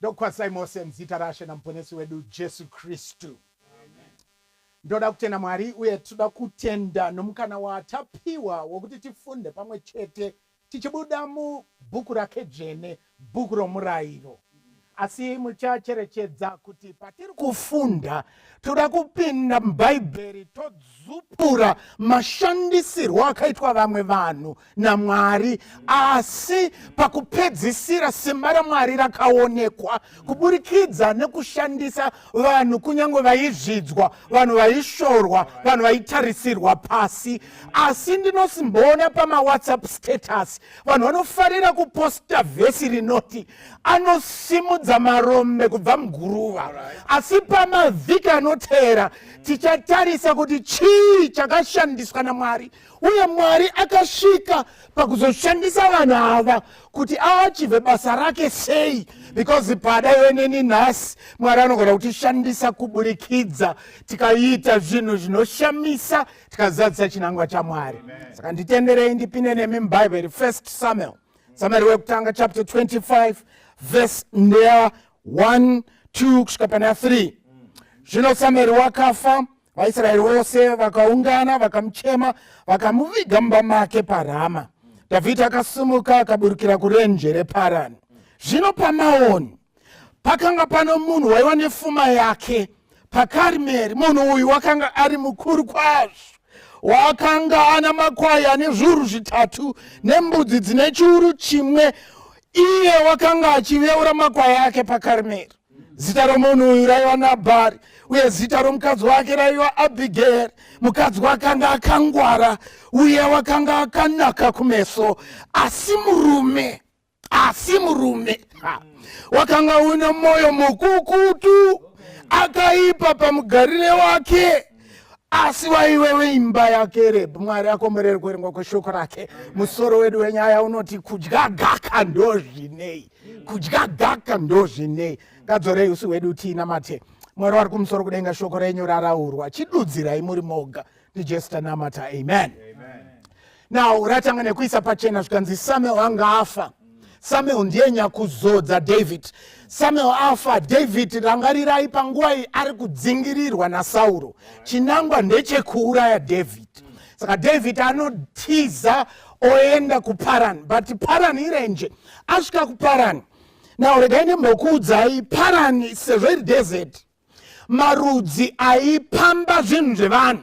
ndokukwazisai mose muzita rashe namuponesi wedu jesu kristu ndoda kutenda mwari uye tinoda kutenda nomukana watapiwa wokuti tifunde pamwe chete tichibuda mubhuku rake dzvene, bhuku romurayiro. Asi muchacherechedza kuti patiri kufunda toda kupinda mubhaibheri todzupura mashandisirwo akaitwa vamwe vanhu namwari asi pakupedzisira simba ramwari rakaonekwa kuburikidza nekushandisa vanhu kunyange vaizvidzwa vanhu vaishorwa vanhu vaitarisirwa pasi asi ndinosimboona pamawhatsapp status vanhu vanofarira kuposta vhesi rinoti anosimudza marombe kubva muguruva asi pamavhiki anoteera tichatarisa kuti chii chakashandiswa namwari uye mwari akasvika pakuzoshandisa vanhu ava kuti aachivhe basa rake sei because pada iwe neni nhasi mwari anogona kutishandisa kuburikidza tikaita zvinhu zvinoshamisa tikazadzisa chinangwa chamwari saka nditenderei ndipinde nemi mubhaibheri first samuel samueri wekutanga chapter 25 verse ndeya 1 2 kusvika pana 3 zvino samueri wakafa mm. vaisraeri vose vakaungana vakamuchema vakamuviga mumba make parama dhavhidhi akasimuka akaburukira kurenje reparani zvino pamaoni pakanga pano munhu waiva nefuma yake pakarimeri munhu uyu wakanga ari mukuru kwazvo wakanga ana makwai ane zviuru zvitatu nembudzi dzine chiuru chimwe iye wakanga achiveura makwai ake pakarimeri zita romunhu uyu raiva nabhari uye zita romukadzi wake raiva abhigeri mukadzi wakanga akangwara uye wakanga akanaka kumeso asi murume asi murume wakanga una mwoyo mukukutu akaipa pamugarire wake asi waive weimba yake rebhu mwari akomborere kuverengwa kweshoko rake musoro wedu wenyaya unoti kudya gaka ndozvinei kudya gaka ndozvinei ngadzorei usi hwedu tiina mate mwari wari kumusoro kudenga shoko renyu raraurwa chidudzirai muri moga ndijesta namata amen, amen. now ratanga nekuisa pachena zvikanzi samuel anga afa samuel ndiye nyakuzodza david samuel afa david rangarirai panguva iyi ari kudzingirirwa nasauro chinangwa ndechekuuraya david saka david anotiza oenda kuparan but paran irenje mm. asvika kuparani now regai ndimbokuudzai parani sezvo iri desert marudzi aipamba zvinhu zvevanhu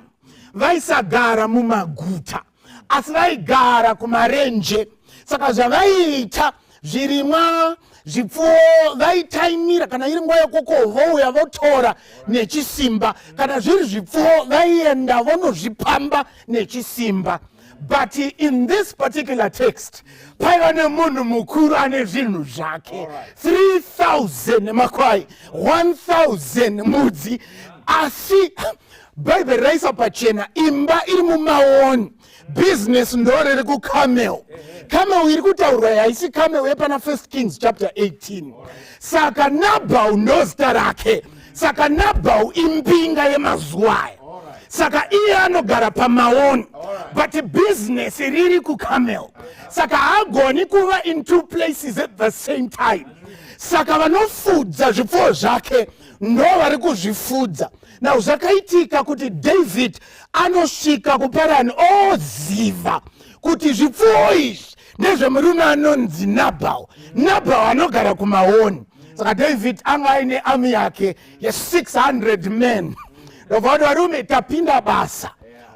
vaisagara mumaguta asi vaigara kumarenje saka zvavaiita zvirimwa zvipfuwo vaitaimira kana iri nguva yokoko vouya votora nechisimba kana zviri zvipfuwo vaienda vonozvipamba nechisimba but in this particular text paiva nemunhu mukuru ane zvinhu zvake 3000 makwai 1000 mudzi asi bhaibheri raisa pachena imba iri mumaoni business ndoriri kucamel camel iri kutaurwa yaisi camel yepana first kings chapter 18 saka nabhau ndozita rake saka nabhau imbinga yemazuva aya saka iye anogara pamaoni but business riri kucamel saka haagoni kuva in two places at the same time saka vanofudza zvipfuwo zvake ndo vari kuzvifudza now zvakaitika kuti david anosvika kuparani oziva kuti zvipfuwo izvi ndezvemurume anonzi nabhal nabhal anogara kumaoni saka david anga aine ami yake ye600 men ndobvakuti varume tapinda basa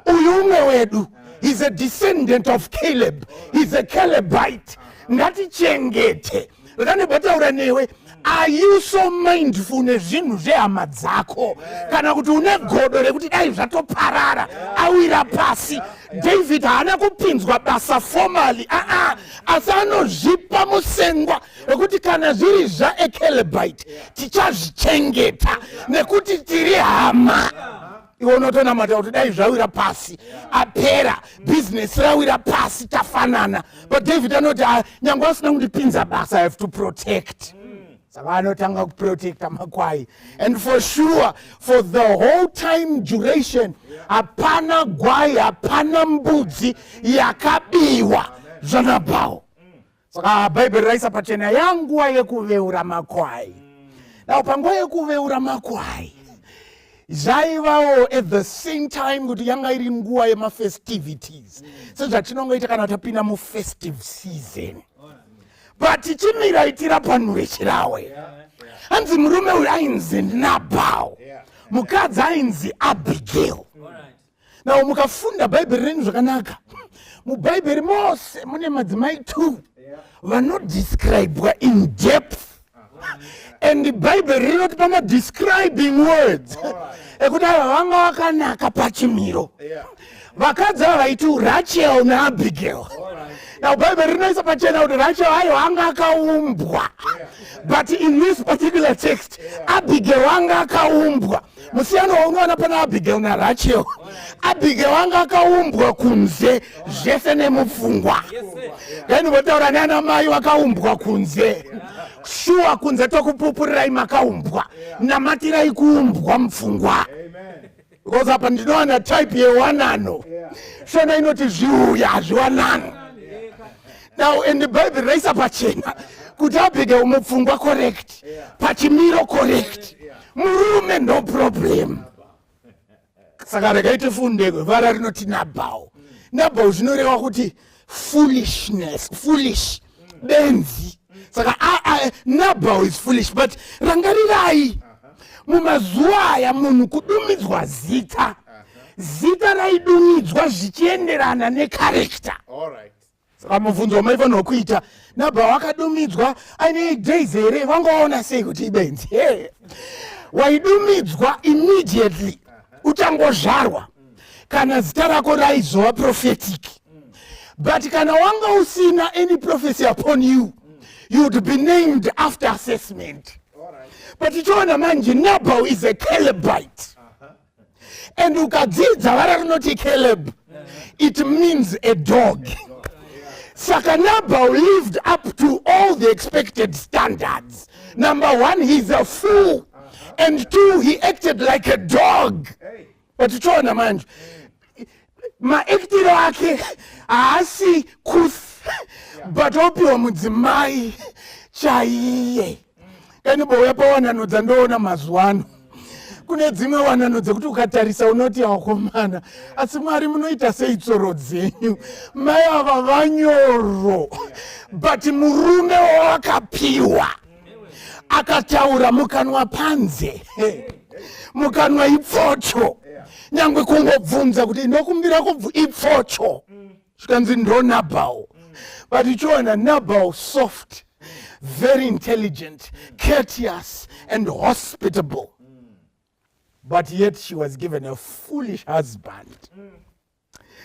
uyu umwe wedu he's a descendant of caleb he's a calebite ngatichengete rane bataura newe are you so mindful nezvinhu zvehama dzako kana kuti une godo rekuti dai zvatoparara awira pasi david haana kupinzwa basa formally aa asi anozvipa musengwa wekuti kana zviri zvaekelebite tichazvichengeta nekuti tiri hama yeah. iwe unotonamata kuti dai zvawira pasi apera bhizinesi rawira pasi tafanana but david anoti ah, nyange asina kundipinza basa i have to protect saka anotanga kuprotecta makwai and for sure for the whole time duration hapana gwai hapana mbudzi yakabiwa zvanabhawo saka bhaibheri raisa pachena yanguva yekuveura makwai now panguva yekuveura makwai zvaivawo at the same time kuti yanga iri nguva yemafestivities sezvatinongoita kana tapinda mufestive season but chimiraitira panhu vechirawe hanzi murume uyu ainzi nabhal mukadzi ainzi abigail now mukafunda bhaibheri renyu zvakanaka mubhaibheri mose mune madzimai two vanodescribwa in depth and bhaibheri rinotipa madescribing words ekuti ava vanga vakanaka pachimiro vakadzi ava vaiti rachel naabigail now bhaibheri rinoisa pachena kuti rachel ayo anga akaumbwa but in this particular text abigail anga akaumbwa yeah. musiyano waunoona pana abigail narachel abigail anga akaumbwa kunze zvese nemupfungwa then votaura nana mai vakaumbwa kunze shuwa kunze tokupupurirai makaumbwa namatirai kuumbwa mupfungwa because apa ndinowana type yewanano shona inoti zviuya hazviwanano now and bhaibheri raisa pachena kuti abigail mupfungwa correct pachimiro correct murume no problem saka regai tifunde vara rinoti nabhau nabhau zvinoreva kuti foolishness foolish benzi saka nabhau is foolish but rangarirai mumazuva aya munhu kudumidzwa zita zita raidumidzwa zvichienderana nekarekta saka mubvunzo wamaifanirwa kuita nabha wakadumidzwa aine days here vangaona sei kuti ibenzi waidumidzwa immediately uchangozvarwa kana zita rako raizova prophetic but kana wanga usina any prophecy upon you you would be named after assessment but tichiona manje nabal is a calebite and ukadzidza vara rinoti caleb it means a dog saka nabal lived up to all the expected standards number one he's a fool and two he acted like a dog but tiona manje maaktiro ake haasi kuth but opiwa mudzimai chaiye kani bouya pawanano dzandoona mazuva ano kune dzimwe wanano dzekuti ukatarisa unoti akomana asi mwari munoita sei tsoro dzenyu mai ava vanyoro but murume wawakapiwa akataura mukanwa panze mukanwa ipfocho nyangwe kungobvunza kuti ndokumbira kubvu ipfocho mm. zvikanzi ndo nabhal but uchiona nabhal soft very intelligent courteous and hospitable but yet she was given a foolish husband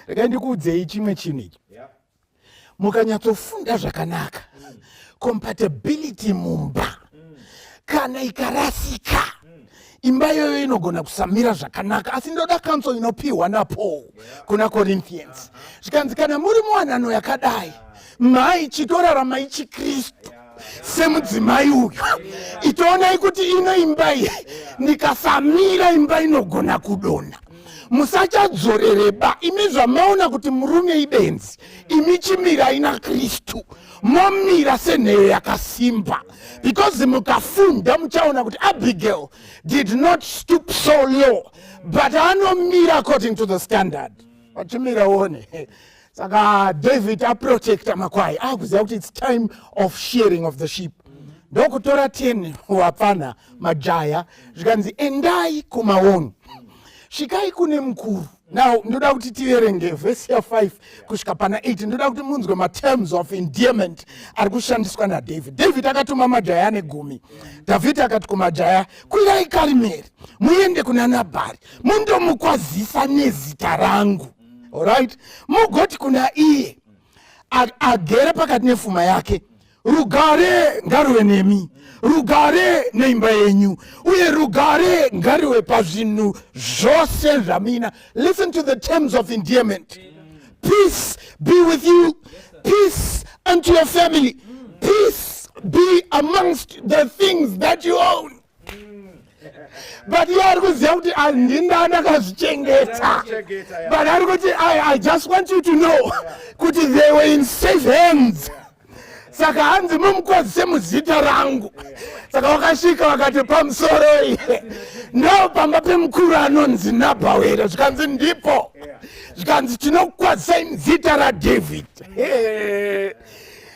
rekai ndikuudzei chimwe chinhu ichi mukanyatsofunda zvakanaka compatibility mumba kana ikarasika imba iyoyo inogona kusamira zvakanaka asi ndoda kanso inopiwa napaul kuna corinthians zvikanzi kana muri muwanano yakadai mhai chitoraramai chikristu semudzimai uyu itoonai kuti ino imba iyi ndikasamira imba inogona kudona musachadzorereba imi zvamaona kuti murume ibenzi imi chimirai nakristu momira senheyo yakasimba because mukafunda muchaona kuti abigail did not stoop so low but anomira according to the standard vachimira one saka david aprotecta makwai akuziva kuti its time of sharing of the sheep ndokutora 10 wapfana majaya zvikanzi endai kumaoni svikai kune mukuru now ndoda kuti tiverenge vhesi ya5 kusvika pana 8 ndoda kuti munzwe materms of endearment ari kushandiswa nadavid david akatuma majaya ane gumi dhavhidhi akati kumajaya kwirai karimeri muende kuna nabhari mundomukwazisa nezita rangu orit mugoti kuna iye agere pakati nefuma yake rugare ngaruve nemi rugare neimba yenyu uye rugare ngariwe pazvinhu zvose zvamina listen to the terms of endearment peace be with you peace unto your family peace be amongst the things that you own but iye ari kuziva kuti ah, ndindani akazvichengeta but ari kuti i just want you to know kuti they were in safe hands saka hanzi mumukwazise muzita rangu saka vakasvika vakati pamusoro iye ndo pamba pemukuru anonzi nabhau here zvikanzi ndipo zvikanzi tinokukwazisai muzita radhavhid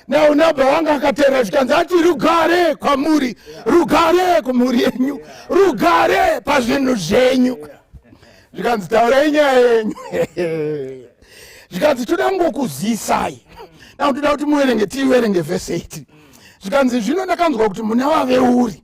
Now nabba wanga akateerera zvikanzi ati rugare kwamuri, rugare kumhuri yenyu, rugare pazvinhu zvenyu. Zvikanzi taurai nyaya yenyu. Zvikanzi toda kungokuzisai. Now toda kuti muverenge tiverenge verse 8. Zvikanzi zvino ndakanzwa kuti muna waveuri.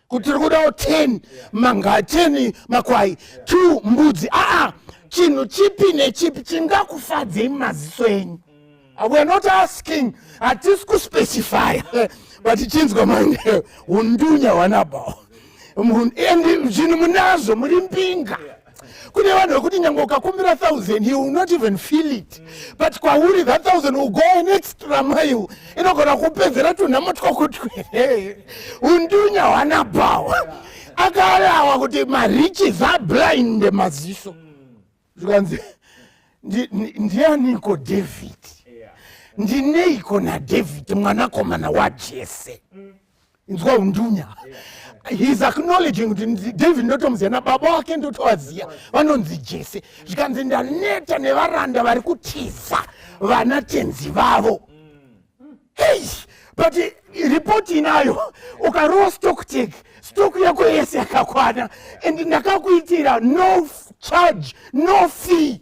kutiri kudawo 10 manga 10 makwai 2 mbudzi aa chinhu chipi nechipi chingakufadzei mumaziso enyu weare not asking hatisi kuspecify but chinzwa manje undunya wanabao and zvinhu munazvo muri mbinga kune vanhu vekuti nyange ukakumbira thousand he will not even feel it but kwauri that thousand will go an extra mile inogona kupedzera tunhamo twakutwere undunya hwana bhawa akarawa kuti mariches are blind maziso zvikanzi ndianiko david ndineiko nadavid mwanakomana wajese mm. inzwa undunya heis acknowledging kuti david ndotomuziva nababa wake ndotovaziva vanonzi jese zvikanzi ndaneta nevaranda vari kutiza vana tenzi vavo hei but ripoti inayo ukarowa stock tek stock yako yese yakakwana and ndakakuitira no charge no fee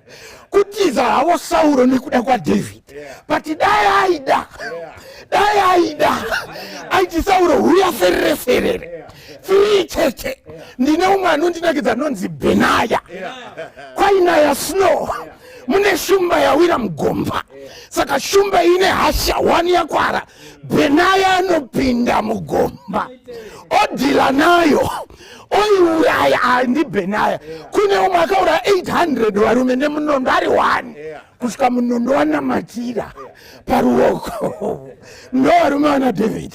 kutiza havo sauro nekuda kwadhavid but dai aida dai aida aiti sauro huya ferere ferere firii cheche ndine umwe anondinakidza anonzi benaya kwainaya snow mune shumba yawira mugomba saka shumba ine hasha wani yakwara benaya anopinda mugomba odhila nayo oiuraya andibenaya kune umwe akauraya 800 varume nemunondo ari one kusvika munondo wanamatira paruoko ndo varume vana david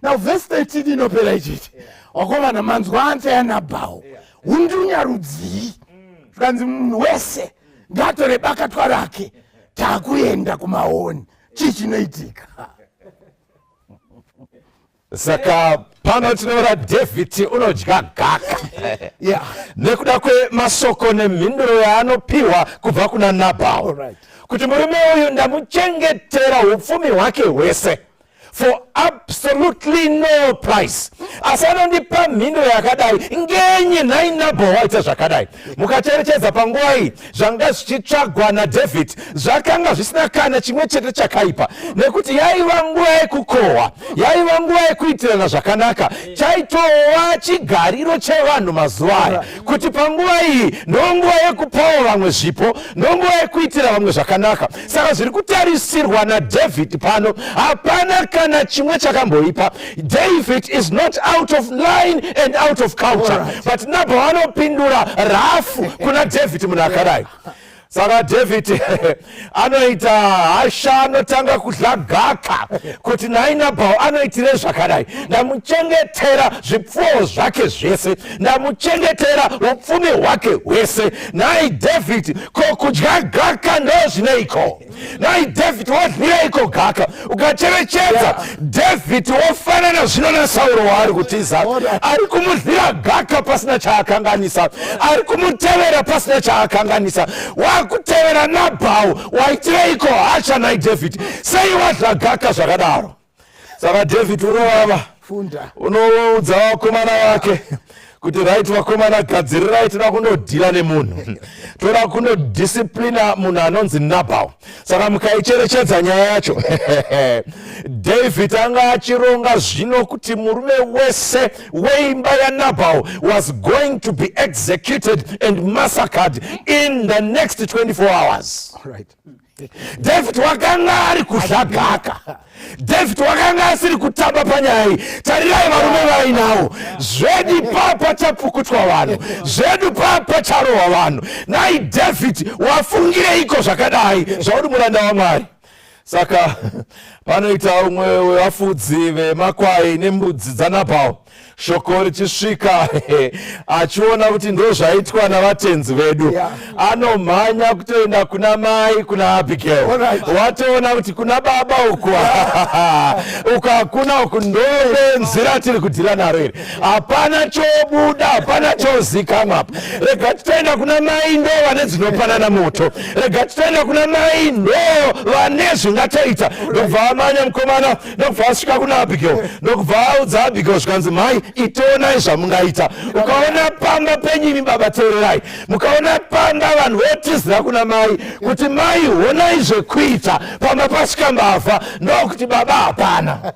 now vhesi 13 inopera ichiti wakovana manzwa ansa yanabhawo undunya rudzii zvikanzi munhu wese ngatore bakatwa rake takuenda kumahoni chii chinoitika saka pano tinoona david unodya gaka yeah. nekuda kwemasoko nemhinduro yaanopiwa kubva kuna nabhao right. kuti murume uyu ndamuchengetera upfumi hwake hwese for absolutely no price asi anondipa mhinduro yakadai ngenyi nhai nabhao waita zvakadai mukacherechedza panguva iyi zvanga zvichitsvagwa nadhavhidhi zvakanga zvisina kana chimwe chete chakaipa nekuti yaiva nguva yekukohwa yaiva nguva yekuitirana zvakanaka chaitova chigariro chevanhu mazuva aya kuti panguva iyi ndonguva yekupawo vamwe zvipo ndonguva yekuitira vamwe zvakanaka saka zviri kutarisirwa nadhavhidhi pano hapana kana chimwe chakamboipa David is not out of line and out of culture right. but nabho vanopindura rafu kuna David munhu akadai saka david anoita hasha anotanga kudla gaka kuti nhai nabhau anoitire zvakadai ndamuchengetera zvipfuwo zvake zvese ndamuchengetera upfumi hwake hwese nhai david ko kudya gaka ndozvineiko nai david wadhuraiko gaka ukacherechedza david wofanana zvino nasauro waari kutiza ari kumudhira gaka pasina chaakanganisa ari kumutevera pasina chaakanganisa waakutevera nabhau waitireiko hacha nai david sei wadhla gaka zvakadaro saka david unovava unoudza vakomana vake kuti right vakomana gadzirirai toda kundodhira nemunhu toda kundodisiplina munhu anonzi nabal saka mukaicherechedza nyaya yacho david anga achironga zvino kuti murume wese weimba yanabal was going to be executed and massacred in the next 24 hours right. david wakanga ari kuzhagaka david wakanga asiri kutamba panyaya iyi tarirai varume vainawo zvedu papa chapfukutwa vanhu zvedu papa charohwa vanhu nai david wafungireiko zvakadai zvauri muranda wamwari saka panoita umwe wevafudzi vemakwai nembudzi dzanabhawo shoko richisvika achiona kuti ndo zvaitwa navatenzi vedu yeah. anomhanya kutoenda kuna mai kuna abigail watoona kuti kuna baba uku uku hakuna uku ndobenzi ratiri kudhira naro iri hapana chobuda hapana chozikamwa apa rega titoenda kuna mai ndo vane dzinopanana moto rega titoenda kuna mai ndo vane zvingatoita ndobva amanya mukomana ndokubva asvika kuna abigail ndokubva audza abigail zvikanzi mhai itoonai zvamungaita ukaona pamba penyimi baba teererai mukaona panga vanhu votizira kuna mai kuti mai honai zvekuita pamba pasvika mbavha ndokuti baba hapana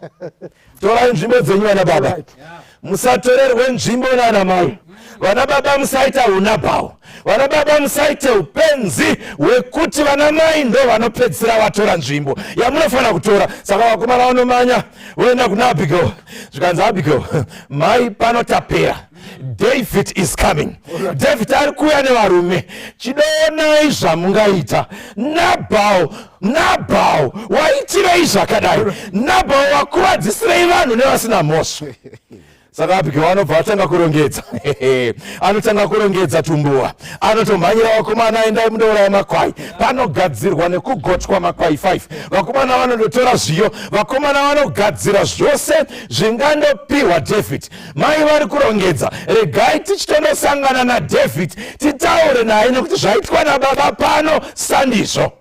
torai nzvimbo dzenyu vana baba musatorerwe nzvimbo nana mai vana baba musaita hunabhawo vana baba musaite upenzi hwekuti vana mai ndo vanopedzisira vatora nzvimbo yamunofanira kutora saka vakomana vanomanya voenda kuna abigail zvikanzi abigail mai pano tapera david is coming david ari kuuya nevarume chidonai zvamungaita nabhawo nabhao waitirei zvakadai nabhao wakuvadzisirei vanhu nevasina mhosva saka abigail anobva atanga kurongedza anotanga kurongedza tumbuwa anotomhanyira vakomana aendai munouraya makwai panogadzirwa nekugotwa makwai 5 vakomana vanondotora zviyo vakomana vanogadzira zvose zvingandopiwa david mai vari kurongedza regai tichitondosangana nadhavid titaure naye nekuti zvaitwa nababa pano sandizvo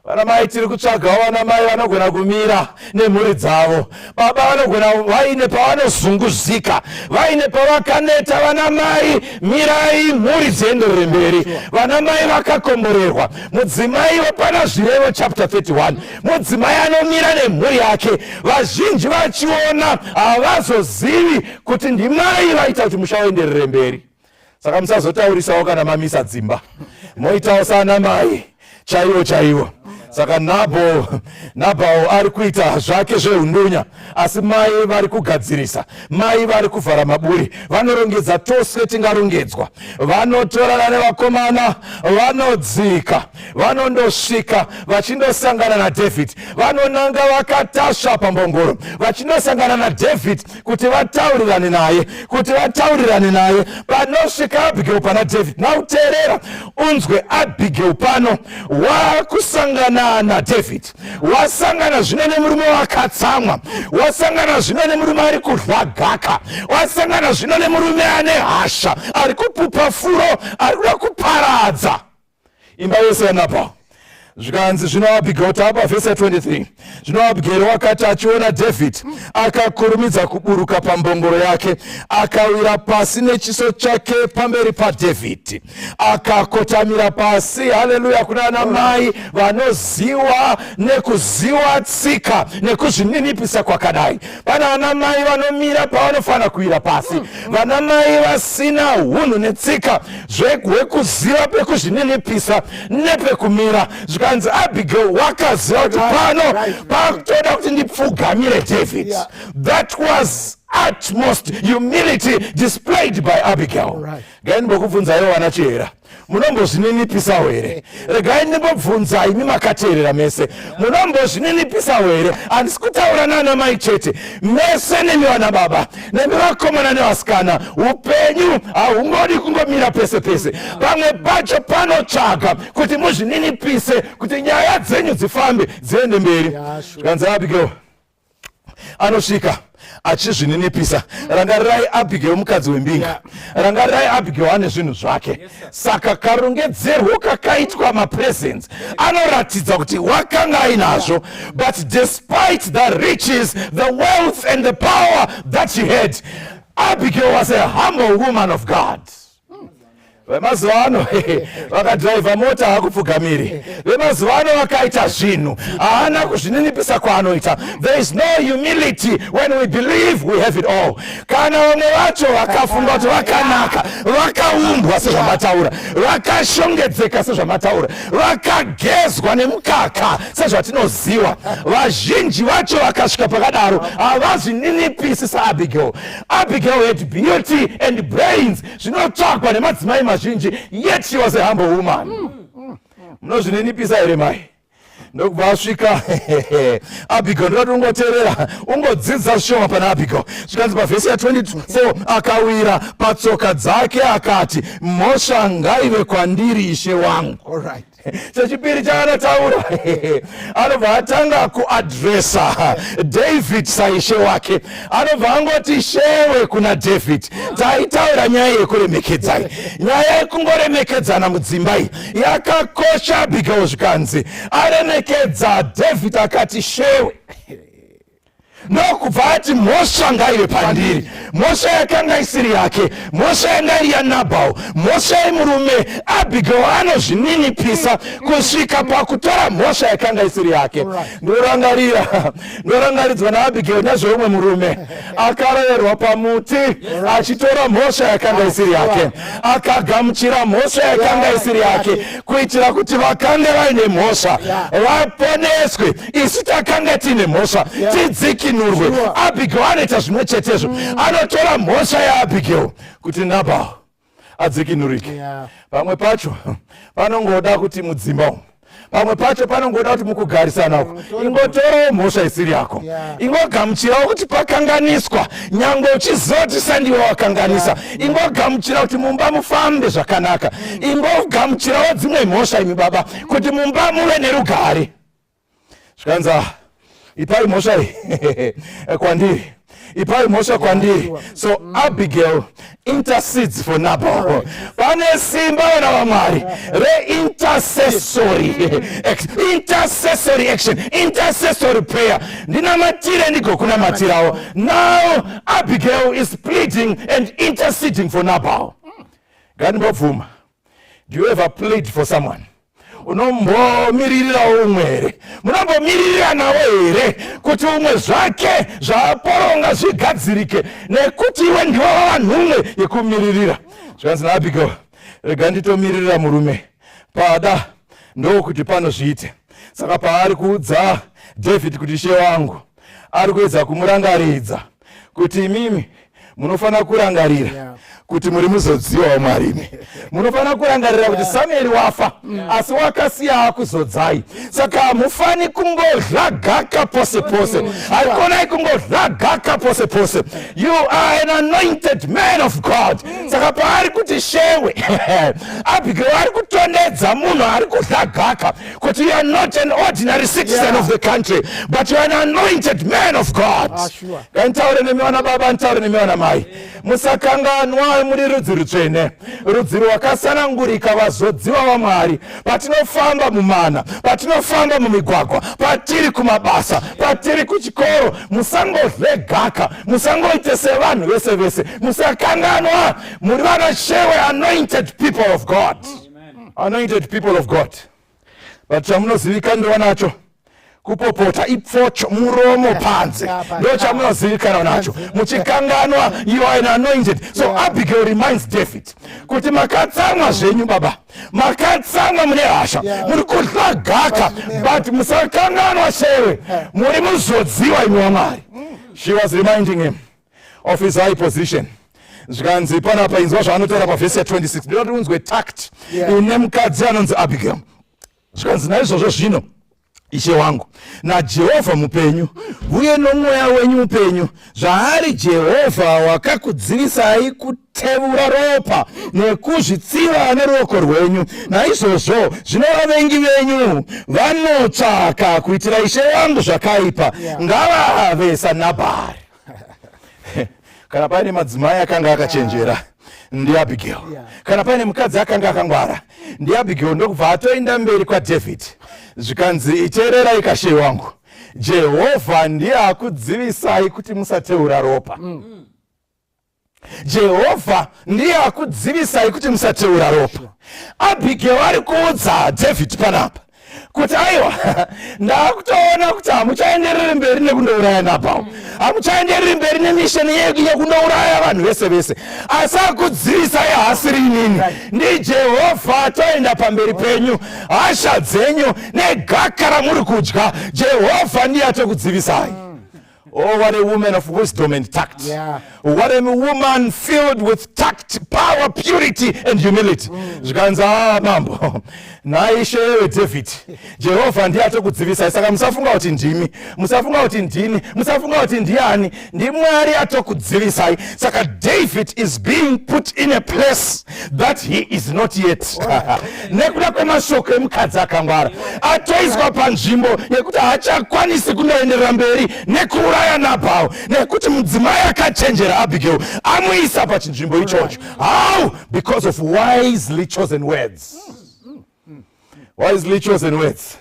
vanamai tiri kutsvagawo vanamai vanogona kumira nemhuri dzavo baba vanogona vaine pavanozunguzika vaine pavakaneta vanamai mirai mhuri dzienderere mberi vanamai vakakomborerwa mudzimai wapana zvirevo chapter 31 mudzimai anomira nemhuri yake vazhinji vachiona havazozivi kuti ndimai vaita kuti musha waenderere mberi saka musazotaurisawo kana mamisa dzimba moitawo sana mai chaiwo chaiwo saka nabho nabhawo ari kuita zvake zveundunya asi mai vari kugadzirisa mai vari kuvhara maburi vanorongedza tose tingarongedzwa vanotorana nevakomana vanodzika vanondosvika vachindosangana nadhavhidhi vanonanga vakatasva pambongoro vachindosangana nadhavhidhi kuti vataurirane naye kuti vataurirane naye panosvika abigeu pana david now teerera unzwe abigeu pano wakusangana nadavid wasangana zvino nemurume wakatsamwa wasangana zvino nemurume ari kudla gaka wasangana zvino nemurume ane hasha ari kupupa furo ari kuda kuparadza imba yose yanapa zvikanzi zvino abigail taapa vhesi ya 23 zvino abigail wakati achiona david akakurumidza kuburuka pambongoro yake akawira pasi nechiso chake pamberi padhavhidhi akakotamira pasi haleluya kuna ana mai vanoziwa nekuziwa tsika nekuzvininipisa kwakadai Pana ana mai vanomira pavanofanira kuwira pasi, mm, mm. vana mai vasina hunhu netsika zvekuziva pekuzvininipisa nepekumira, zvikanzi Abigail wakaziva kuti pano pakutoda kuti ndipfugamire David. That was utmost humility displayed by Abigail. Ngaini bokubvunzaiwo vana Chihera. munombozvininipisawo here regai ndimbobvunza imi makateerera mese munombozvininipisawo here handisi kutaura nana mai chete mese nemi vana baba nemi vakomana nevasikana upenyu hahungodi kungomira pese pese pamwe pacho panotsvaga kuti muzvininipise kuti nyaya dzenyu dzifambe dziende mberi zvikanzi abigail anosvika achizvininipisa rangarirai abigail mukadzi wembinga rangarirai abigail ane zvinhu zvake saka karongedzerwo kakaitwa mapresents anoratidza kuti wakanga ainazvo but despite the riches the wealth and the power that she had abigail was a humble woman of god vemazuva ano vakadhiraivha mota hakupfugamiri vemazuva ano vakaita zvinhu haana kuzvininipisa kwaanoita there is no humility when we believe we have it all kana vamwe vacho vakafunga kuti vakanaka vakaumbwa sezvamataura vakashongedzeka sezvamataura vakagezwa nemukaka sezvatinoziva vazhinji vacho vakasvika pakadaro havazvininipisi saabigail Abigail had beauty and brains zvinotsvagwa nemadzimai mazhinji yet she was a humble woman. Mm. Munozvininipisa here mai? ndokubva asvika abigo ndoda kuti ungoteerera ungodzidza zvishoma pana abigo zvikanzi pavhesi ya24 akawira patsoka dzake akati mhosva ngaive kwandiri ishe wangu All right. chechipiri chaanotaura anobva atanga kuadresa david saishe wake anobva angoti shewe kuna david taitaura nyaya yekuremekedzai nyaya yekungoremekedzana mudzimba iyi yakakosha abigail zvikanzi aremekedza david akati shewe ndokubva ati mhosva ngaive pandiri mhosva yakanga isiri yake mhosva yanga iri yanabhau mhosva yemurume abigel anozvininipisa kusvika pakutora mhosva yakanga isiri yake ndorangarira ndorangaridzwa naabigel nezveumwe murume akaroverwa pamuti achitora mhosva yakanga isiri yake akagamuchira mhosva yakanga isiri yake kuitira kuti vakange vaine mhosva vaponeswe isu takanga tiine mhosva yeah. tidzikinurwe sure. abigail anoita zvimwe chetezvo mm. anotora mhosva yaabigail kuti nabal adzikinurike yeah. pamwe pacho panongoda kuti mudzimba umu pamwe pacho panongoda kuti mukugarisana uko mm, ingotorawo mhosva isiri yako ingogamuchirawo kuti pakanganiswa nyange uchizoti sandiwe wakanganisa ingogamuchira kuti mumba mufambe zvakanaka mm. ingogamuchirawo dzimwe mhosva imi baba kuti mumba muve nerugare zvikanzi ah, ipai mhosva iyi kwandiri ipai mhosva kwandiri so mm. abigail intercedes for nabal pane simba vana vamwari reintercessory intercessory action intercessory prayer ndinamatire ndigokunamatirawo now abigail is pleading and interceding for nabal mm. ngandibobvuma do you ever plead for someone unombomiririrawo umwe here munombomiriranawo here kuti umwe zvake zvaaporonga zvigadzirike nekuti iwe ndiwo vavanhume yekumiririra zvikanzi naabigail rega nditomiririra murume pada ndokuti panozviite saka paari kuudza david kuti she wangu ari kuedza kumurangaridza kuti imimi munofanira kurangarira yeah. kuti muri muzodziwa wamwari imi munofanira kurangarira kuti samueri wafa yeah. asi wakasiya akuzodzai saka hamufani kungodlagaka pose pose mm, haikonai kungodlagaka pose pose you are an anointed man of god mm. saka paari kuti shewe abigail ari kutondedza munhu ari kudlagaka But you are not an ordinary citizen yeah. of the country, but you are an anointed man of God. Ah, sure. Ntaure nemi vana baba, ntaure nemi vana mai. Musakanganwa muri rudzi rutsvene, rudzi rwakasanangurika, vazodziwa vaMwari. Patinofamba mumana, patinofamba mumigwagwa, patiri kumabasa, patiri kuchikoro, musangodle gaka, musangoite sevanhu vese vese. Musakanganwa muri vana shewe, anointed people of God. Mm. anointed people of god but chamunozivikanirwa nacho kupopota ipfocho muromo panze ndo chamunozivikanwa nacho muchikanganwa you are an anointed so abigail reminds david kuti makatsamwa zvenyu baba makatsamwa mune hasha muri kudla gaka but musakanganwa shewe muri muzodziwa imwe wamwari mm. she was reminding him of his high position zvikanzi panapa inzwa zvaanotaura pavhesi ya26 ndinoti unzwe tact ine mukadzi anonzi abigail zvikanzi naizvozvo zvino ishe wangu najehovha mupenyu uye nomweya wenyu mupenyu zvaari jehovha wakakudzivisai kutevura ropa nekuzvitsiva neruoko rwenyu naizvozvo zvino vavengi venyu vanotsvaka kuitira ishe wangu zvakaipa ngavave sanabhari kana paine madzimai akanga akachenjera yeah ndiabigail yeah. kana paine mukadzi akanga akangwara ndiabigail ndokubva atoenda mberi kwadhavhidhi zvikanzi iteererai kashe wangu jehovha ndiye akudzivisai kuti musateura ropa mm. jehovha ndiye akudzivisai kuti musateura ropa abhigeo ari kuudza dhavhidhi panapa kuti aiwa ndakutoona kuti hamuchaendereri mberi nekundouraya nabhao hamuchaendereri mberi nemisheni yedu yekundouraya vanhu vese vese asi akudzivisai haasiri inini ndijehovha toenda pamberi penyu hasha dzenyu negaka ramuri kudya jehovha ndiye atokudzivisai Oh, what a woman of wisdom and tact. Yeah. What a woman filled with tact, power, purity, and humility. Mm. Zvikanzi, ah, mambo, naishe yewe David, Jehovah ndiye atokudzivisai. Saka musafunga kuti ndimi, musafunga kuti ndini, musafunga kuti ndiani, ndimwari atokudzivisai. Saka David is being put in a place that he is not yet nekuda kwemashoko emukadzi akangwara atoiswa panzvimbo yekuti haachakwanisi kunoenderera mberi nekuuraya nabhao nekuti mudzimai akachenjera abigail amuisa pachinzvimbo ichocho how because of wisely chosen words wisely chosen words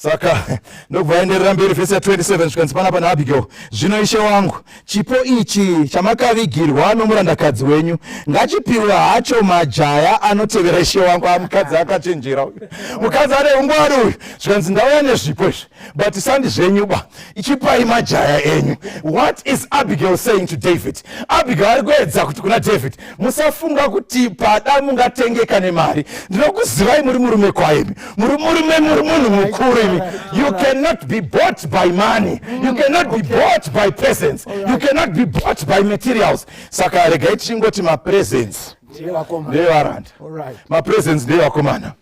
saka ndokubva aenderera mberi vhesi ya 27 zvikanzi panapa naabigail zvino ishe wangu chipo ichi chamakavigirwa nomurandakadzi wenyu ngachipiwe hacho majaya anotevera ishe wangu amukadzi ah, akachenjera uyu mukadzi ane ungwari uyu zvikanzi ndauya nezvipo izvi but sandi zvenyu ba ichipai majaya enyu what is abigail saying to david abigail ari kuedza kuti kuna david musafunga kuti pada mungatengeka nemari ndinokuzivai muri murume kwaimi muri murume muri munhu mukuru imi you cannot be bought by money you cannot be bought by presents you cannot be bought by materials saka regai tichingoti mapresents ndeevaranda mapresents ndeevakomana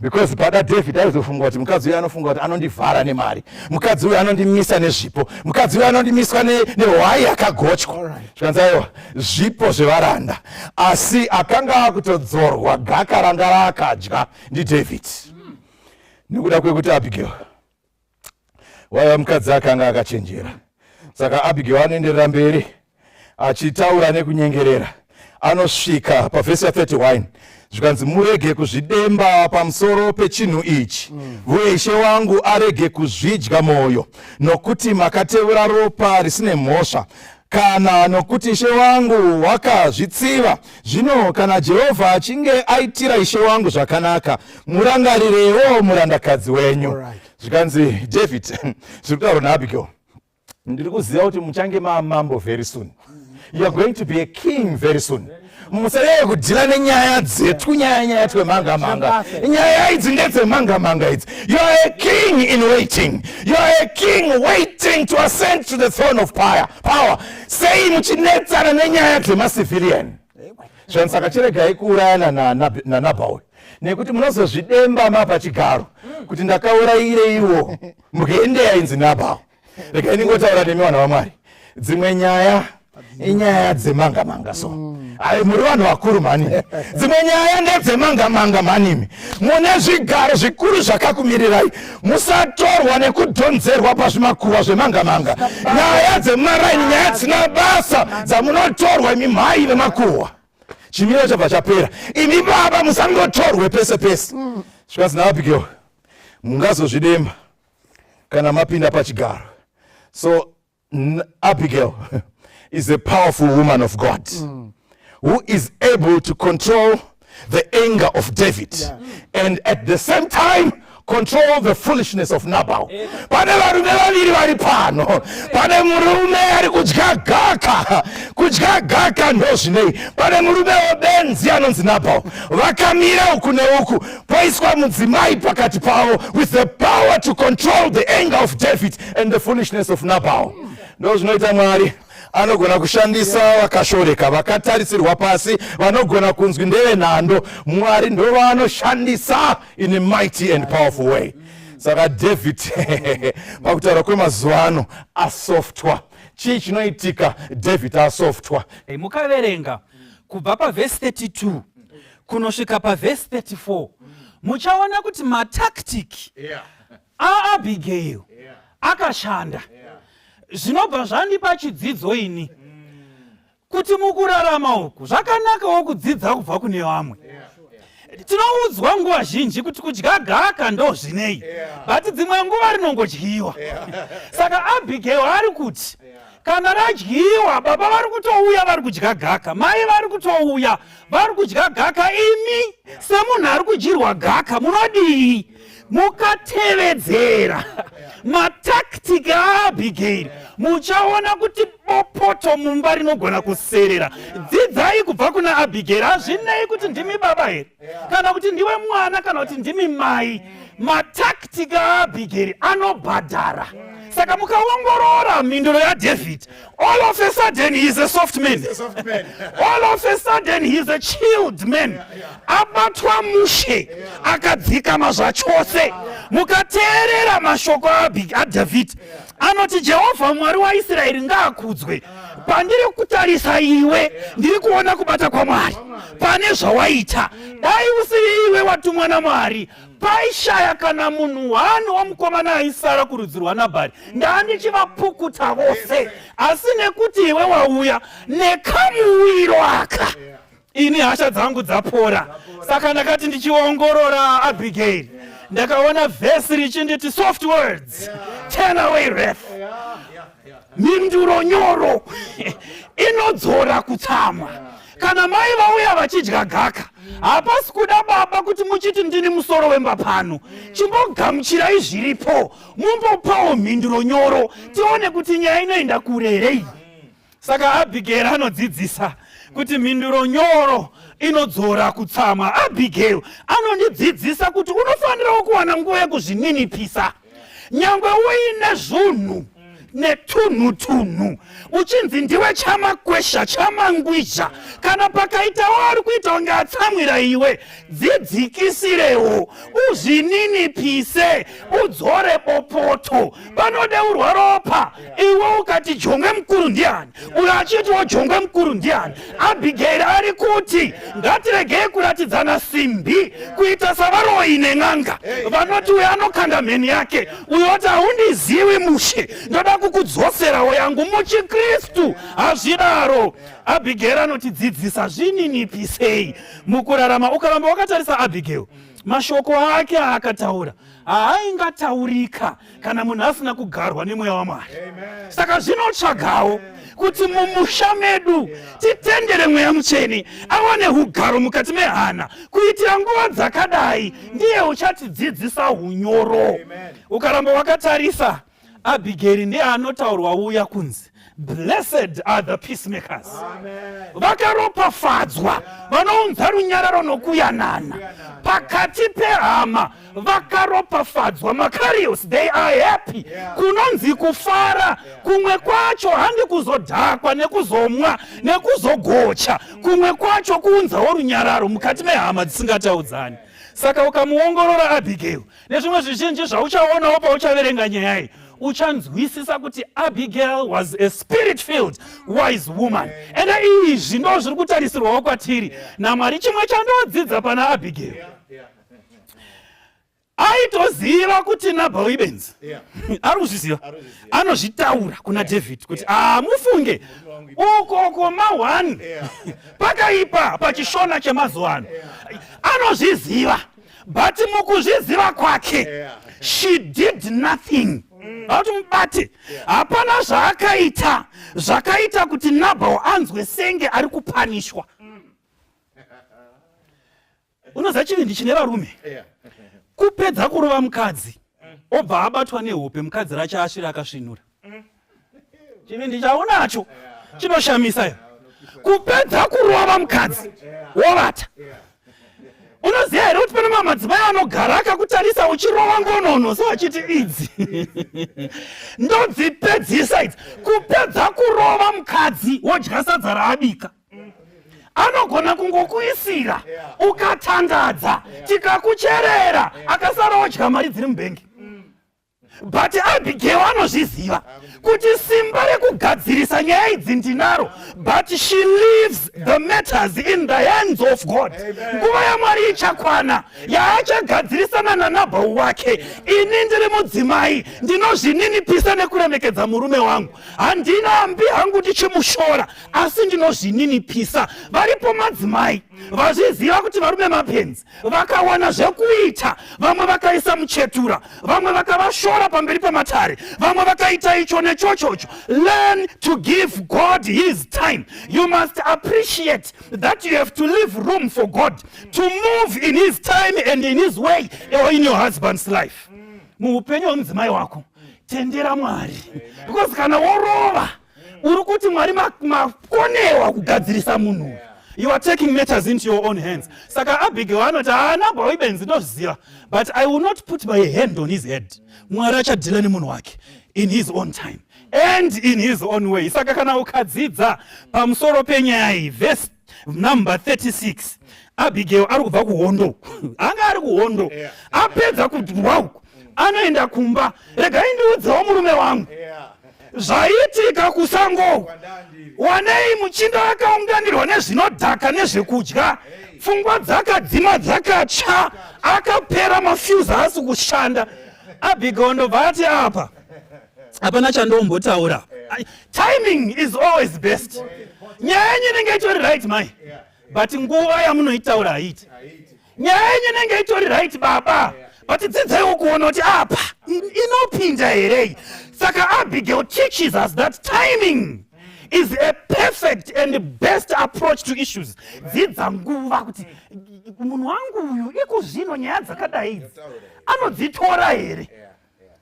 because pada david aizofunga kuti mukadzi uyo anofunga kuti anondivhara nemari mukadzi uyo anondimisa nezvipo mukadzi uyo anondimiswa nehwai yakagochwa zvikanzi aiwa zvipo zvevaranda asi akanga akutodzorwa gaka ranga raakadya ndidavid nekuda kwekuti abigail waiva mukadzi akanga akachenjera saka abigail anoenderera mberi achitaura nekunyengerera anosvika pavhesi ya31 zvikanzi murege kuzvidemba pamusoro pechinhu ichi uye ishe wangu arege kuzvidya mwoyo nokuti makatevura ropa risine mhosva kana nokuti ishe wangu wakazvitsiva. Zvino kana Jehovha achinge aitira ishe wangu zvakanaka, murangarirewo murandakadzi wenyu. Zvikanzi David, zviri kutaurwa naAbigail, ndiri kuziva kuti muchange mamambo very soon. You are going to be a king very soon. musareve kudhila nenyaya dzetu nyaya nyaya twemanga manga nyaya idzi ndedzemanga manga idzi youare a king in waiting youare a king waiting to ascend to the throne of power, power. sei muchinetsana nenyaya dzemacivilian zvani saka chiregai kuurayana nanabaul nekuti munozozvidemba mapa chigaro kuti ndakaurayireiwo mukeendeya inzi nabaul rega ndingotaura nemi vanhu vamwari dzimwe nyaya inyaya dzemanga manga so mm. ayi muri vanhu vakuru mhani dzimwe nyaya ndedzemanga manga mhanimi mune zvigaro zvikuru zvakakumirirai musatorwa nekudhonzerwa pazvimakuva zvemanga manga nyaya dzemaraini nyaya dzina basa dzamunotorwa imi mhai vemakuhwa chimiro chabva chapera imi baba musangotorwe pese pese mm. zvikanzi navapigewo mungazozvidemba kana mapinda pachigaro so abigail is a powerful woman of god mm. who is able to control the anger of david yeah. and at the same time control the foolishness of nabal pane varume vaviri vari pano pane murume ari kudya gaka kudya gaka ndozvinei pane murume webenzi anonzi nabal vakamira uku neuku paiswa mudzimai pakati pavo with the power to control the anger of david and the foolishness of nabal ndo zvinoita mwari anogona kushandisa vakashoreka vakatarisirwa pasi vanogona kunzwi ndevenhando mwari ndovanoshandisa in a mighty and powerful way saka david pakutaura kwemazuva ano asoftwa chii chinoitika david asoftwa mukaverenga kubva pavhesi 32 kunosvika pavhesi 34 muchaona kuti matactic yeah. aabigail yeah. akashanda yeah. zvinobva zvandipa chidzidzo ini mm. kuti mukurarama uku zvakanakawo kudzidza kubva kune vamwe yeah tinoudzwa nguva zhinji kuti kudya gaka ndo zvinei but dzimwe nguva rinongodyiwa saka abigail ari kuti kana radyiwa baba vari kutouya vari kudya gaka mai vari kutouya vari kudya gaka imi semunhu ari kudyirwa gaka munodii mukatevedzera matactic aabigairi muchaona kuti bopoto mumba rinogona kuserera dzidzai kubva kuna abigairi hazvinei kuti ndimi baba here kana kuti ndiwe mwana kana kuti ndimi mai mataktika aabhigeri anobhadhara saka mukaongorora mhinduro yadhavhidhi all of a sudden heis a soft man all of a sudden heis a child man abatwa mushe akadzikama zvachose mukateerera mashoko adhavhidhi anoti jehovha mwari waisraeri ngaakudzwe pandiri kutarisa iwe ndiri kuona kubata kwamwari pane zvawaita dai usiri iwe watumwa namwari paishaya kana munhu wani wamukomana aisara kurudzi rwanabhari ndandichivapukuta vose asi nekuti iwe wauya nekamuwiro aka ini hasha dzangu dzapora saka ndakati ndichiongorora abigail ndakaona vhesi richinditi soft words turn away ref mhinduro nyoro inodzora kutsamwa Kana mai vauya vachidya gaka, hapasi kuda baba kuti muchiti ndini musoro wemba pano. Chimbogamuchirai zviripo, mumbopawo mhinduro nyoro, tione kuti nyaya inoenda kure here iyi. Saka Abigail anodzidzisa kuti mhinduro nyoro inodzora kutsamwa. Abigail anondidzidzisa kuti unofanirawo kuwana nguva yekuzvininipisa. nyangwe uine zvunhu netunhu tunhu uchinzi ndiwe chamakwesha chamangwizha kana pakaita waari kuita kunge atsamwira iwe dzidzikisirewo uzvininipise udzore bopoto panode urwa ropa iwe ukati jongwe mukuru ndiani uyo achiitiwo jongwe mukuru ndiani abhigeri ari kuti ngatiregei kuratidzana simbi kuita savaroyi nen'anga vanoti uyo anokanda mheni yake uyo oti haundiziwi mushe ndoda kukudzoserawo yangu muchikristu hazvidaro abhigeri anotidzidzisa zvininipisei mukurarama ukaramba wakatarisa abhigeri mashoko ake aakataura haaingataurika kana munhu asina kugarwa nemweya wamwari saka zvinotsvagawo kuti mumusha medu titendere mweya mutsvene awane ugaro mukati mehana kuitira nguva dzakadai ndiye uchatidzidzisa unyoro ukaramba wakatarisa abhigeri ndiye anotaurwa uya kunzi blessed are the peacemakers vakaropafadzwa vanounza runyararo nokuyanana pakati pehama vakaropafadzwa makarios they are happy kunonzi kufara kumwe kwacho handi kuzodhakwa nekuzomwa nekuzogocha kumwe kwacho kuunzawo runyararo mukati mehama dzisingataudzani saka ukamuongorora abhigeri nezvimwe zvizhinji zvauchaonawo pauchaverenga nyaya iyi uchanzwisisa kuti abigail was a spirit filled wise woman ende izvi ndo zviri kutarisirwawo kwatiri namwari chimwe chandodzidza pana abigail aitoziva kuti nabhal ibenzi ari kuzviziva anozvitaura kuna david kuti amufunge ah, ukoko mahwani pakaipa pachishona chemazuva ano anozviziva but mukuzviziva kwake she did nothing vauti mubate hapana zvaakaita zvakaita kuti nabhal anzwe senge ari kupanishwa unoziva chivindi chine varume kupedza kurova mukadzi obva abatwa nehope mukadzi racho asvira akasvinura chivindi chaunacho chinoshamisa iyo kupedza kurova mukadzi wovata unoziva here kuti pane mamwe madzimai anogara akakutarisa uchirova ngonono so achiti idzi ndodzipedzisa idzi kupedza kurova mukadzi wodya sadza raabika anogona kungokuisira ukatandadza tikakucherera akasara odya mari dziri mubhengi but abigail anozviziva kuti simba rekugadzirisa nyaya idzi ndinaro but she leaves the matters in the hands of god nguva yamwari ichakwana yaachagadzirisana nanabhau wake ini ndiri mudzimai ndinozvininipisa nekuremekedza murume wangu handina ambi hangu ndichimushora asi ndinozvininipisa varipo madzimai vazviziva kuti varume mapenzi vakawana zvekuita vamwe vakaisa muchetura vamwe vakavashora pamberi pamatare vamwe vakaita icho nechochocho learn to give god his time you must appreciate that you have to leave room for god to move in his time and in his way or in your husband's life muupenyu hwemudzimai wako tendera mwari because kana worova uri kuti mwari makonewa kugadzirisa munhu uyu you are taking matters into your own hands saka abigail anoti haana bwa ibenzi ndozviziva but i will not put my hand on his head mwari achadhila nemunhu wake in his own time and in his own way saka kana ukadzidza pamusoro penyaya iyi vhesi number 36 abigail ari kubva kuhondo anga ari kuhondo apedza kudurwa uku anoenda kumba rega indiudzawo murume wangu zvaiitika kusango wanei muchinda akaunganirwa nezvinodhaka nezvekudya pfungwa dzakadzima dzakatsva akapera mafuse haasi kushanda abigail ndobva ati apa hapana chandombotaura timing is always best nyaya yenyu inenge itori right mai but nguva yamunoitaura haiti nyaya yenyu inenge itori right baba but dzidzaiwo kuona kuti apa inopinda herei saka abigail teaches us that timing is a perfect and best approach to issues dzidza nguva kuti munhu wangu uyu ikuzvino nyaya dzakadai idzi anodzitora here yeah.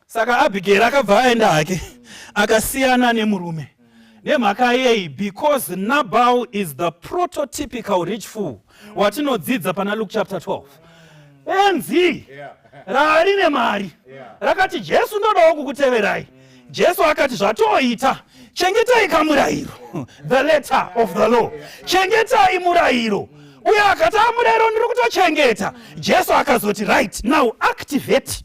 Saka Abigail akabva aenda hake akasiyana nemurume nemhaka yei because nabal is the prototypical rich fool watinodzidza pana luke chapter 12 benzi raari nemari rakati jesu ndodawo kukuteverai jesu akati zvatoita chengetai kamurayiro the letter of the law chengetai murayiro uye akati amurayiro ndiri kutochengeta jesu akazoti right now activate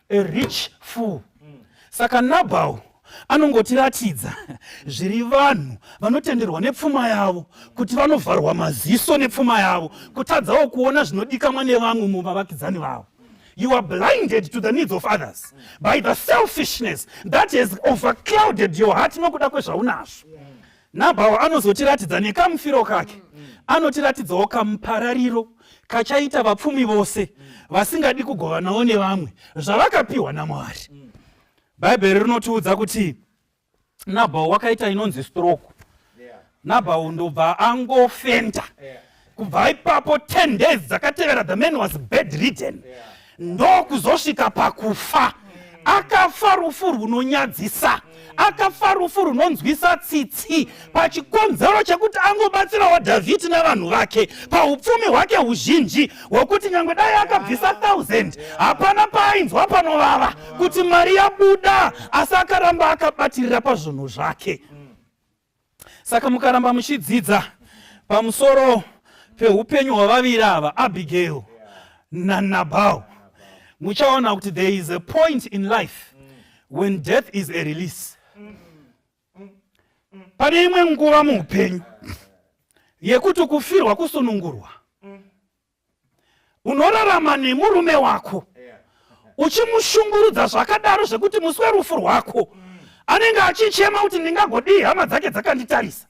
a rich fool saka nabhau anongotiratidza zviri vanhu vanotenderwa nepfuma yavo kuti vanovharwa maziso nepfuma yavo kutadzawo kuona zvinodikamwa nevamwe muvavakidzani vavo you are blinded to the needs of others by the selfishness that has overclouded your heart nokuda kwezvaunazvo Nabharo anozotiratidza nekamufiro kake, anotiratidzawo kamuparariro kachaita vapfumi vose vasingadi kugovanawo nevamwe zvavakapiwa naMwari. Bhaibheri rinotiudza kuti Nabharo wakaita inonzi stroke. Nabharo ndobva angofenda. kubva ipapo 10 days dzakatevera the man was bedridden ndokuzosvika pakufa akafa rufu rwunonyadzisa akafa rufu runonzwisa tsitsi pachikonzero chekuti angobatsirawo dhavhidhi navanhu vake paupfumi hwake huzhinji hwekuti nyange dai akabvisa 1000 hapana paainzwa panovava kuti mari yabuda asi akaramba akabatirira pazvinhu zvake Saka mukaramba muchidzidza pamusoro peupenyu hwavaviri ava, Abigail naNabal, muchaona kuti there is a point in life when death is a release. Pane imwe nguva muupenyu yekuti kufirwa kusunungurwa. unorarama nemurume wako uchimushungurudza zvakadaro zvekuti musi werufu rwako anenge achichema kuti ndingagodii hama dzake dzakanditarisa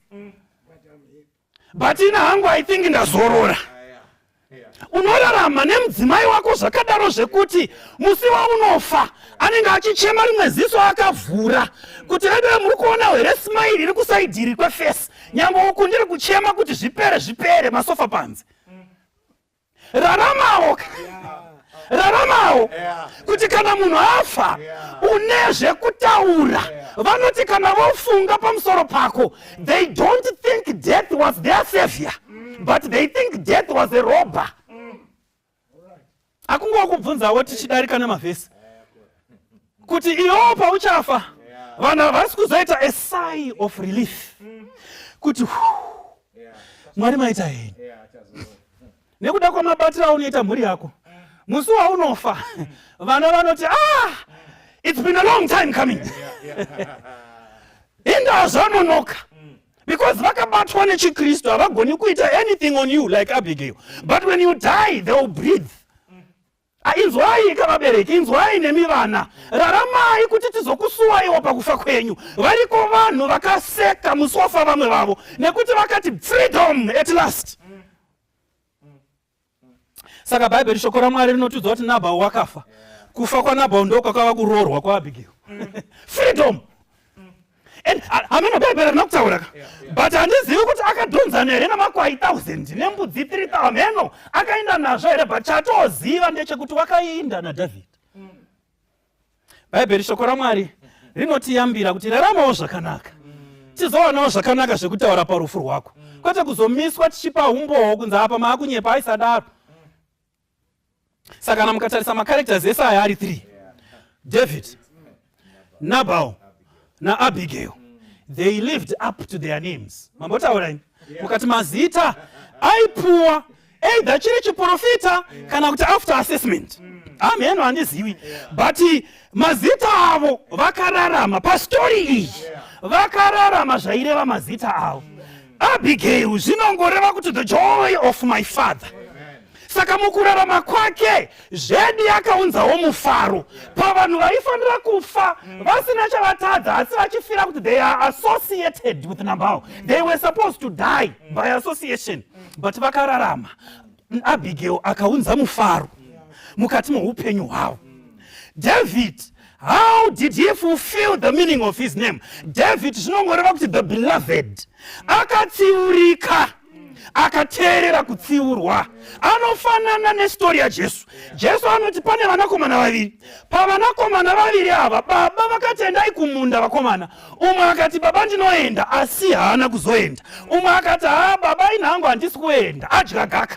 but ina hangu i think ndazorora unorarama nemudzimai wako zvakadaro zvekuti musi waunofa anenge achichema rimwe ziso akavhura kuti vedove muri kuona here smairi iri kusaidhiri kwefesi nyangwe uku ndiri kuchema kuti zvipere zvipere masofa panze raramawo raramawo kuti kana munhu afa une zvekutaura vanoti kana vofunga pamusoro pako they don't think death was their savior mm. but they think death was a robber Akungowa kubvunzawo tichidarika nemavhesi kuti iwo pauchafa vanhu havasi kuzoita a sigh of relief kuti mwari maita heni nekuda kwamabatiro aunoita mhuri yako musi waunofa vana vanoti ah it's been a long time coming inda zvanonoka because vakabatwa nechikristu havagoni kuita anything on you like abigail but when you die they will breathe ah, inzwai kavabereki inzwai nemi vana raramai kuti tizokusuwaiwo pakufa kwenyu variko vanhu vakaseka musi wafa vamwe vavo nekuti vakati freedom at last saka bhaibheri shoko ramwari rinotiudza kuti nabhau wakafa kufa kwanabhau ndokwakava kuroorwa kwaabhigiro mm. freedom and hameno bhaibheri rina kutaura ka but handizivi kuti akadhonzana here namakwai 1000 nembudzi 3 hameno akaenda nazvo here but chatoziva ndechekuti wakainda nadhavhidhi mm. bhaibheri shoko ramwari rinotiyambira kuti raramawo zvakanaka tizowanawo zvakanaka zvekutaura parufu rwako kwete kuzomiswa tichipa umbowo kunze apa maakunyepa aisadaro saka kana mukatarisa macarectors ese aya ari 3 david nabal naabigail they lived up to their names mambotaura ini mukati mazita aipuwa either chiri chiprofita kana kuti after assessment amen handizivi but mazita avo vakararama pastori iyi vakararama zvaireva mazita avo abigail zvinongoreva kuti the joy of my father saka mukurarama kwake zvedi akaunzawo mufaro pavanhu vaifanira kufa mm. vasina chavatadza asi vachifira kuti they are associated with nambao they were supposed to die mm. by association mm. but vakararama abigail akaunza mufaro mukati meupenyu hwavo david how did he fulfill the meaning of his name david zvinongoreva kuti the beloved akatsiurika akateerera kutsiurwa anofanana nesitori yajesu jesu anoti pane vanakomana vaviri pavanakomana vaviri ava baba vakati endai kumunda vakomana umwe akati baba ndinoenda asi haana kuzoenda umwe akati haa baba ini hangu handisi kuenda adya gaka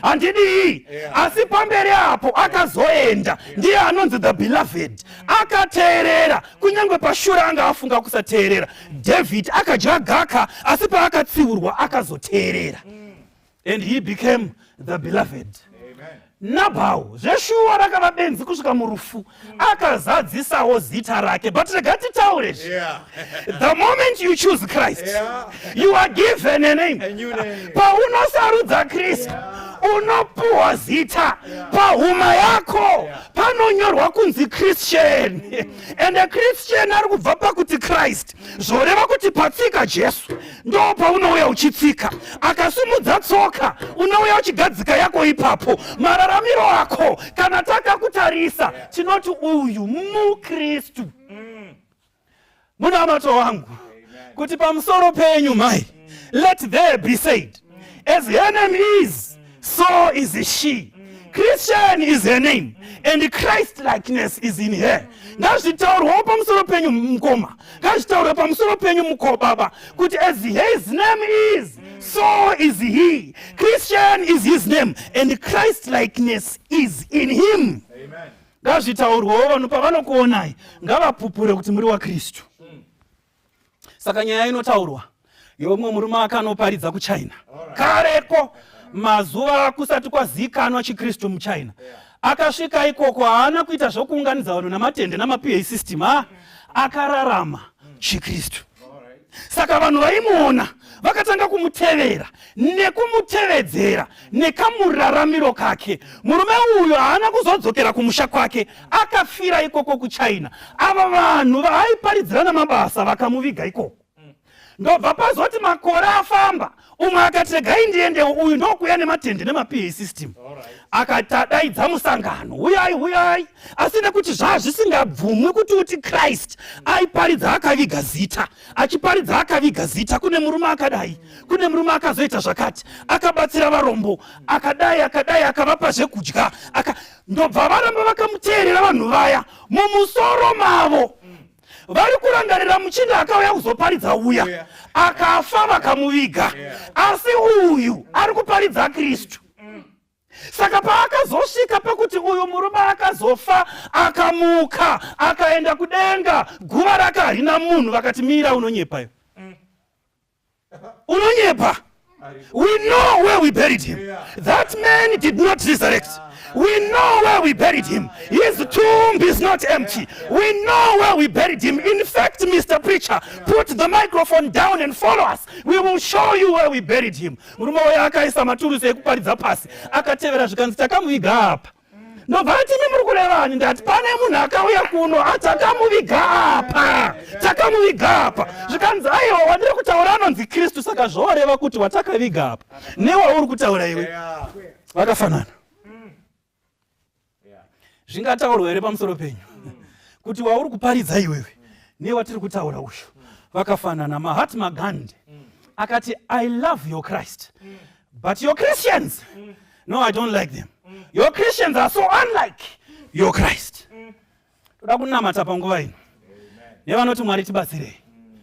handidii asi pamberi apo akazoenda ndiye anonzi the beloved akateerera kunyange pashura anga afunga kusateerera david akadya gaka asi paakatsiurwa akazoteerera mm. and he became the beloved mm. nabhau zveshuwa rakava benzi kusvika murufu akazadzisawo zita rake but rega titaure zvi the moment you choose christ you are given a name paunosarudza kristu unopuhwa zita pahuma yako panonyorwa kunzi christian and a christian ari kubva pakuti christ zvoreva kuti patsika jesu ndo paunouya uchitsika akasimudza tsoka unouya uchigadzika yako ipapo mararamiro ako kana takakutarisa tinoti uyu mukristu munamato wangu kuti pamusoro penyu mai let there be said as enemies so is she christian is her name and christ likeness is in her ngazvitaurwawo pamusoro penyu mukoma ngazvitaurwe pamusoro penyu muko baba kuti as his name is so is he christian is his name and christ likeness is in him ngazvitaurwawo vanhu pavanokuonai ngavapupure kuti muri wakristu saka nyaya inotaurwa yomwe murume akanoparidza kuchina kareko mazuva kusati kwazikanwa chikristu muchina akasvika ikoko haana kuita zvokuunganidza vanhu namatende namapiei system a akararama chikristu saka vanhu vaimuona vakatanga kumutevera nekumutevedzera nekamuraramiro kake murume uyo haana kuzodzokera kumusha kwake akafira ikoko kuchina ava vanhu vaaiparidzirana mabasa vakamuviga ikoko ndobva pazoti makore afamba umwe akati regai ndiendewo uyu ndokuya nematende nemaPA system akatadaidza musangano huyai huyai asi nekuti zvaa zvisingabvumwi kuti uti christ aiparidza akaviga zita achiparidza akaviga zita kune murume akadai kune murume akazoita zvakati akabatsira varombo akadai akadai akavapa zvekudya aka ndobva varamba vakamuteerera vanhu vaya mumusoro mavo vari kurangarira muchinda akauya kuzoparidza uya akafa vakamuviga asi uyu ari kuparidza kristu saka paakazosvika pekuti uyu murume akazofa akamuka akaenda kudenga guva rake harina munhu vakati mira unonyepayo unonyepa we know where we buried him that man did not resurrect we know where we buried him his tomb is not empty we know where we buried him in fact mr preacher put the microphone down and follow us we will show you where we buried him murume uyo akaisa maturusi ekuparidza pasi akatevera zvikanzi takamuviga apa ndobva ati imi muri kurevani ndati pane munhu akauya kuno ah, takamuviga apa takamuviga apa zvikanzi aiwa wandiri kutaura anonzi kristu saka zvoreva kuti watakaviga apa newauri kutaura iwe vakafanana zvingataurwa here pamusoro penyu kuti wauri kuparidza iwewe newatiri kutaura uyu vakafanana mahatma gandi akati i love your christ But your Christians, mm. no, I don't like them. Mm. Your Christians are so unlike mm. your Christ. Mm. Toda kunamata panguva ino nevanoti Mwari tibatsirei. Mm.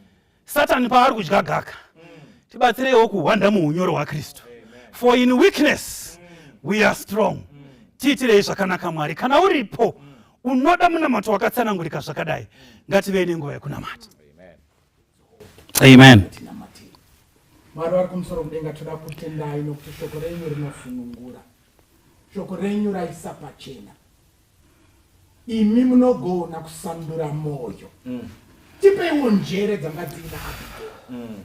Satan paari kudya gaka, mm. tibatsireiwo kuhwanda muunyoro hwaKristu. For in weakness mm. we are strong. Mm. Tiitirei zvakanaka Mwari. Kana uripo mm. unoda munamato wakatsanangurika zvakadai, mm. ngativei nenguva yekunamata. amen mwari vari kumusoro kudenga toda kutendai nokuti shoko renyu rinofunungura shoko renyu raisa pachena imi munogona kusandura mwoyo mm. tipeiwo njere dzanga dziina abigail mm.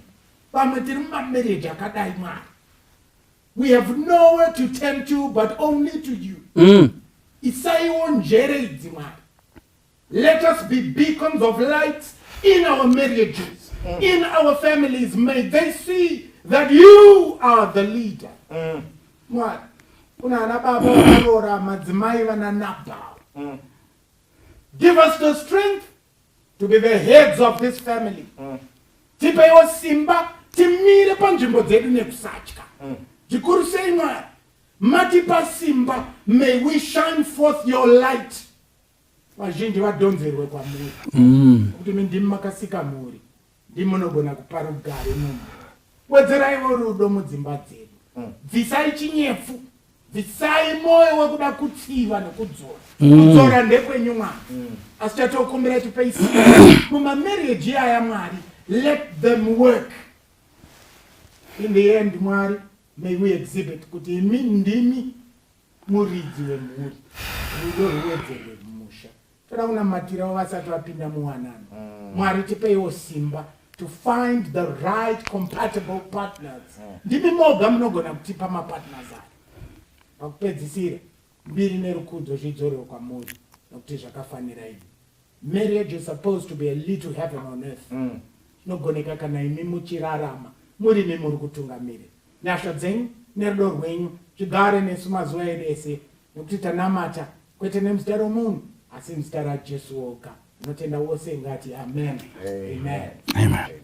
pamwe tiri mumamereji akadai mwari we have nowhere to turn to but only to you mm. isaiwo njere idzi mwari Let us be beacons of light in our marriages, mm. in our families. May they see that you are the leader. Mm. Mwari, kuna ana baba vakarora madzimai vana Nabhal. Mm. Give us the strength to be the heads of this family. Mm. Tipeiwo simba timire panzvimbo dzedu nekusatya. Mm. Chikuru sei Mwari, matipa simba, may we shine forth your light. vazhinji vadhonzerwe kwamuri mm. kuti mi ndimi makasika mhuri ndimi munogona kupa rugare munhu wedzeraiwo rudo mudzimba dzedu mm. bvisai chinyefu bvisai mwoyo wekuda kutsiva nekudzora mm. kudzora ndekwenyu mwana mm. asi chatokumbira tipeisi mumamarriage iyaya mwari let them work in the end mwari may we exhibit kuti imi ndimi muridzi wemhuri rudo ruwedzerwe mumusha toda kunamatirawo vasati vapinda muwanano mm. mwari tipeiwo simba to find the right compatible partners mm. ndimi moga munogona kutipa mapartners ayo pakupedzisira mbiri nerukudzo zvidzorwe kwamuri nokuti zvakafanira ini Marriage is supposed to be a little heaven on earth. Zvinogoneka kana imi muchirarama murimi muri kutungamiri. Nyasha dzenyu nerudo rwenyu zvigare nesu mazuva edu ese nekuti tanamata kwete nemuzita romunhu asi muzita raJesu woga. Anotenda wose ngati amen. Amen. Amen.